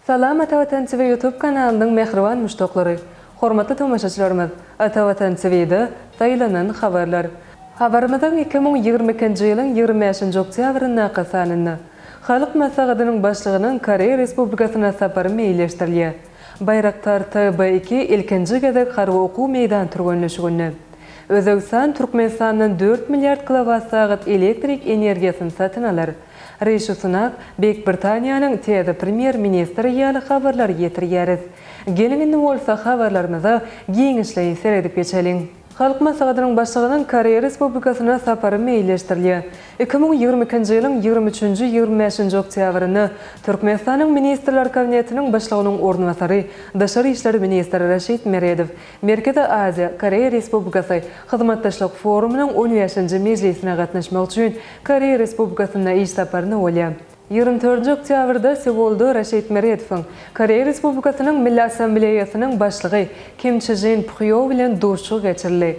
Salam Ata Watan TV YouTube kanalynyň mähriban muşdaklary! Hormatly tomaşaçylarymyz! Ata Watan TVda saýlanan habarlar. Habarymyzyň iki müň ýigrimi ikinji ýylyň ýigrimi bäşinji oktýabryndaky sanynda Halk Maslahatynyň Başlygynyň Koreýa Respublikasyna sapary meýilleşdirilýär. Baýraktar TB iki ilkinji gezek harby okuw meýdan türgenleşiginde Özbegistan Türkmenistandan dört milliard kilowat sagat elektrik energiýasyny satyn alar. Rishi Sunak, Beýik Britaniýanyň täze premýer-ministri ýaly habarlary ýetirýäris. Geliň indi bolsa habarlarymyza giňişleýin seredip geçeliň. Halk Maslahatynyň Başlygynyň Koreýa Respublikasyna sapary meýilleşdirilýär. Iki müň ýigrimi ikinji ýylyň ýigrimi üçünji, ýigrimi bäşinji oktýabrynda Türkmenistanyň Ministrler Kabinetiniň Başlygynyň orunbasary, daşary işler ministri Raşid Meredow, Merkezi Aziýa, Koreýa Respublikasy hyzmatdaşlyk forumynyň on bäşinji mejlisine gatnaşmak üçin Koreýa Respublikasynda iş saparyna bolýar. Ýigrimi dördünji oktýabrda Seulda Raşid Meredowyň Koreýa Respublikasynyň Milli Assambleýasynyň Başlygy Kim Çžin Phýo bilen duşuşygy geçirildi.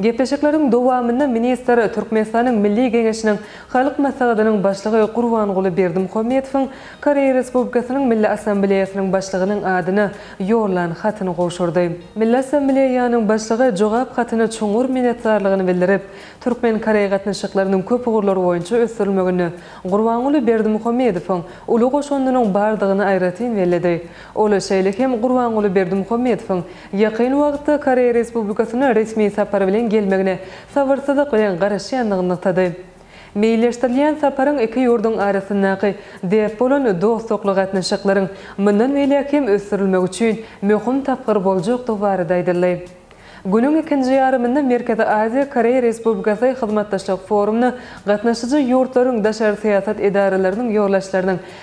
Gepleşikleriň dowamynda ministr Türkmenistanyň Milli Geňeşiniň Halk Maslahatynyň Başlygy Gurbanguly Berdimuhamedowyň Koreýa Respublikasynyň Milli Assambleýasynyň Başlygynyň adyna ýollan hatyny gowşurdy. Milli Assambleýanyň Başlygy jogap hatyny çuňňur minnetdarlygyny bildirip, türkmen-koreý gatnaşyklarynyň köp ugurlar boýunça ösdürilmeginde Gurbanguly Berdimuhamedowyň uly goşandynyň bardygyny aýratyn belledi. Ol şeýle hem Gurbanguly Berdimuhamedowyň ýakyn wagtda Koreýa Respublikasyna resmi sapar bilen gelmegine sabyrsyzlyk bilen garaşýandygyny nygtady. Meýilleşdirilýän saparyň iki ýurduň arasyndaky dert bolan dostlukly gatnaşyklaryň mundan beýläk hem ösdürilmegi üçin möhüm tapgyr boljakdygy barada aýdyldy. Günüň ikinji ýarymynda Merkezi Aziýa, Koreýa Respublikasy hyzmatdaşlyk forumyna gatnaşyjy ýurtlaryň daşary syýasat edaralarynyň ýolbaşçylarynyň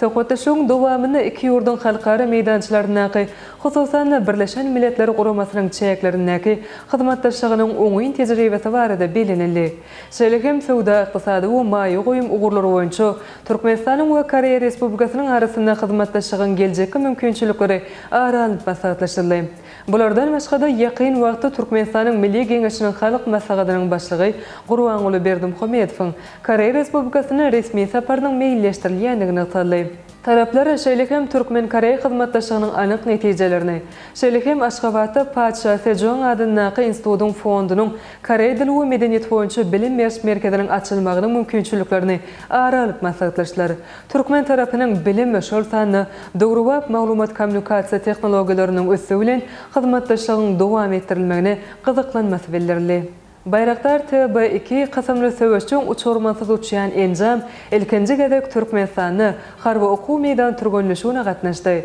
Söhbetdeşligiň dowamynda iki ýurduň halkara meýdançalaryndaky, hususan-da, Birleşen Milletler Guramasynyň çäklerindäki hyzmatdaşlygynyň oňyn tejribesi barada bellenildi. Şeýle hem söwda-ykdysady we maýa goýum ugurlary boýunça Türkmenistanyň we Koreýa Respublikasynyň arasynda hyzmatdaşlygyň geljekki mümkinçilikleri ara alnyp maslahatlaşyldy. Bulardan başga-da, ýakyn wagtda Türkmenistanyň Milli Geňeşiniň Halk Maslahatynyň Başlygy Gurbanguly Berdimuhamedowyň Koreýa Respublikasyna resmi saparynyň meýilleşdirilýändigi nygtaldy. Taraplar şeýle hem türkmen-koreý hyzmatdaşlygynyň anyk netijelerini, şeýle hem Aşgabatda Patyşa Sejoň adyndaky institutyň fondunyň koreý dili we medeniýeti boýunça bilim beriş merkeziniň açylmagynyň mümkinçiliklerini ara alyp maslahatlaşdylar. Türkmen tarapynyň bilim, şol sanda döwrebap maglumat-kommunikasiýa tehnologiýalarynyň ösdügi bilen hyzmatdaşlygyň dowam etdirilmegine gyzyklanmasy bildirildi. Baýraktar TB iki kysymly söweşjeň uçurmansyz uçýan enjam ilkinji gezek Türkmenistanda harby okuw meýdan türgenleşigine gatnaşdy.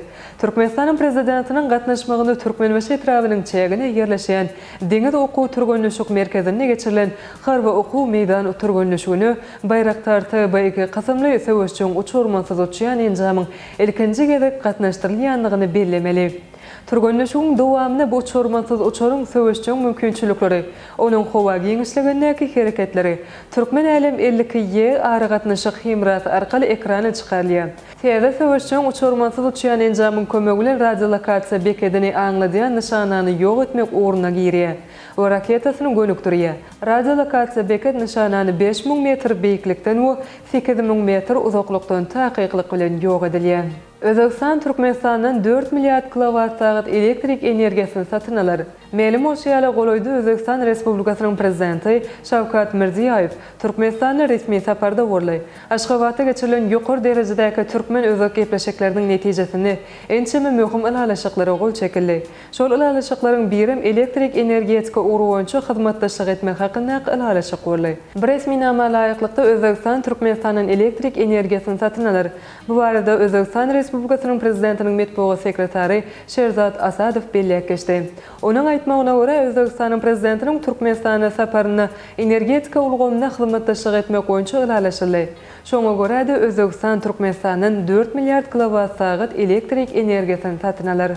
Türkmenistanyň Prezidentiniň gatnaşmagynda Türkmenbaşy etrabynyň çägine ýerleşýän Deňiz okuw-türgenleşik merkezinde geçirilen Harby okuw meýdan türgenleşigine Baýraktar TB iki kysymly söweşjeň uçurmansyz uçýan enjamyň ilkinji gezek gatnaşdyrylýandygyny bellemeli. Türgenleşigiň dowamynda bu uçurmansyz uçaryň söweşjeň mümkinçilikleri, onuň howa giňişligindäki hereketleri Türkmen Älem elli iki ýe aragatnaşyk hemrasy arkaly ekrana çykarylýar. Täze söweşjeň uçurmansyz uçýan enjamyň kömegi bilen radiolokasiýa bekedini aňladýan nyşanany ýok etmek ugruna girýär. we raketasyny gönükdirýär. Radiolokasiýa beket nyşanany bäş müň metr beýiklikden we sekiz müň metr uzaklykdan takyklyk bilen ýok edilýär. Özbegistan Türkmenistandan dört milliard kilowatsagat elektrik energiýasyny satyn alar. Mälim bolşy ýaly, golaýda Özbegistan Respublikasynyň Prezidenti Şawkat Mirziýaýew Türkmenistana resmi saparda boldy. Aşgabatda geçirilen ýokary derejedäki türkmen-özbek gepleşikleriniň netijesinde ençeme möhüm ylalaşyklara gol çekildi. Şol ylalaşyklaryň birem elektrik energetika ugry boýunça hyzmatdaşlyk etmek hakyndaky ylalaşyk boldy. Bu resminama laýyklykda Özbegistan Türkmenistandan elektrik energiýasyny satyn alar. Bu barada Özbegistan Respublikasynyň Prezidentiniň metbugat sekretary Şerzad Asadow belläp geçdi. Onuň aýtmagyna görä, Özbegistanyň Prezidentiniň Türkmenistana saparynda energetika ulgamynda hyzmatdaşlyk etmek boýunça ylalaşyldy. Şoňa görä-de, Özbegistan Türkmenistandan dört milliard kilowat-sagat elektrik energiýasyny satyn alar.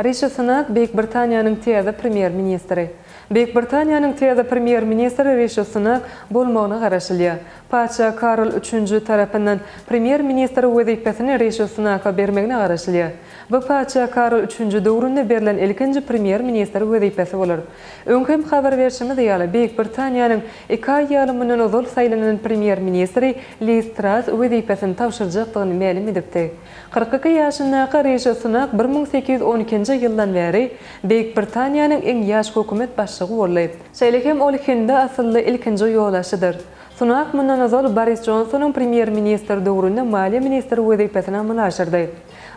Rişi Sunak, Beýik Britaniýanyň täze premýer-ministri. Beýik Britaniýanyň täze premýer-ministri Rişi Sunak bolmagyna garaşylýar. Patyşa Karl üçünji tarapyndan premýer-ministr wezipesini Rişi Sunaka bermegine garaşylýar. Bu patyşa Karl üçünji döwründe berlen ilkinji premýer-ministr wezipesi bolar. Öň hem habar berşimiz ýaly, Beýik Britaniýanyň iki aý ýaly mundan ozal saýlanan premýer-ministri Liz Tras wezipesini tabşyrjakdygyny mälim edipdi. Kyrk iki ýaşyndaky Rişi Sunak bir müň sekiz ýüz on ikinji ýyldan bäri Beýik Britaniýanyň iň ýaş hökümet başlygy boldy. Şeýle hem ol hindi asylly ilkinji ýolagçydyr. Sunak mundan ozal Boris Jonsonyň premýer-ministr döwründe maliýe ministri wezipesini amala aşyrdy.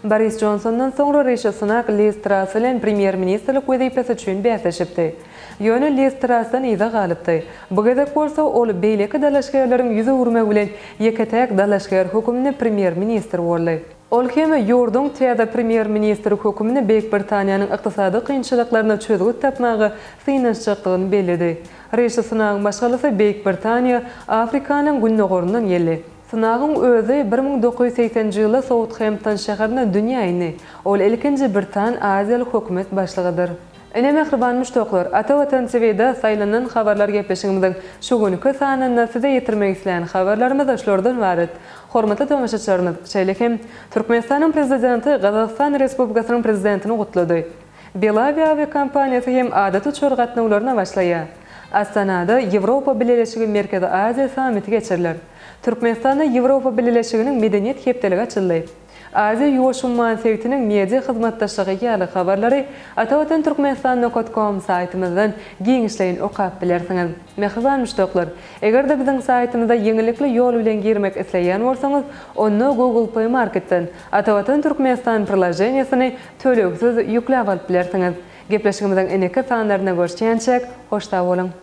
Boris Jonsondan soňra Rişi Sunak Liz Trass bilen premýer-ministrlik wezipesi üçin bäsleşipdi. Ýöne Listrasdan yza galypdy. Bu gezek bolsa ol beýleki dalaşgärleriň ýüz öwürmegi bilen ýeke-täk dalaşgär hökümli premýer-ministr boldy. Ol hem ýurduň täze premýer-ministri hökümli Beýik Britaniýanyň ykdysady kynçylyklaryna çözgüt tapmaga synanyşjakdygyny belledi. Rişi Sunagyň maşgalasy Beýik Britaniýa, Afrikanyň gündogaryndan geldi. Sunagyň özi bir müň dokuz ýüz segseninji ýylda Soutgempton şäherinde dünýä indi. Ol ilkinji britan-aziýaly hökümet başlygydyr. Ine mähriban muşdaklar, Ata Watan TV-de saýlanylan habarlar gepleşigimiziň şu günki sanynda size ýetirmek isleýän habarlarymyz şulardan ybarat. Hormatly tomaşaçylarymyz, şeýle hem Türkmenistanyň Prezidenti Gazagystan Respublikasynyň Prezidentini gutlady. Belavia awiakompaniýasy hem adaty uçar gatnawlaryna başlaýar. Astanada Ýewropa Bileleşigi Merkezi Aziýa sammiti geçiriler. Türkmenistanda Ýewropa Bileleşiginiň Medeniýet hepdeligi açyldy. Aziýa-Ýuwaş umman sebitiniň media hyzmatdaşlygy ýaly habarlary atavatanturkmenistan.com saýtymyzdan giňişleýin okap bilersiňiz. Mähriban müşdaklar, eger-de biziň saýtymyza ýeňillikli ýol bilen girmek isleýän bolsaňyz, onda Google Play Marketden Atavatan Türkmenistan priloženiýesini tölegsiz ýükläp alyp bilersiňiz. Gepleşigimiziň ineki sanlaryna görşýänçäk, hoş sag boluň!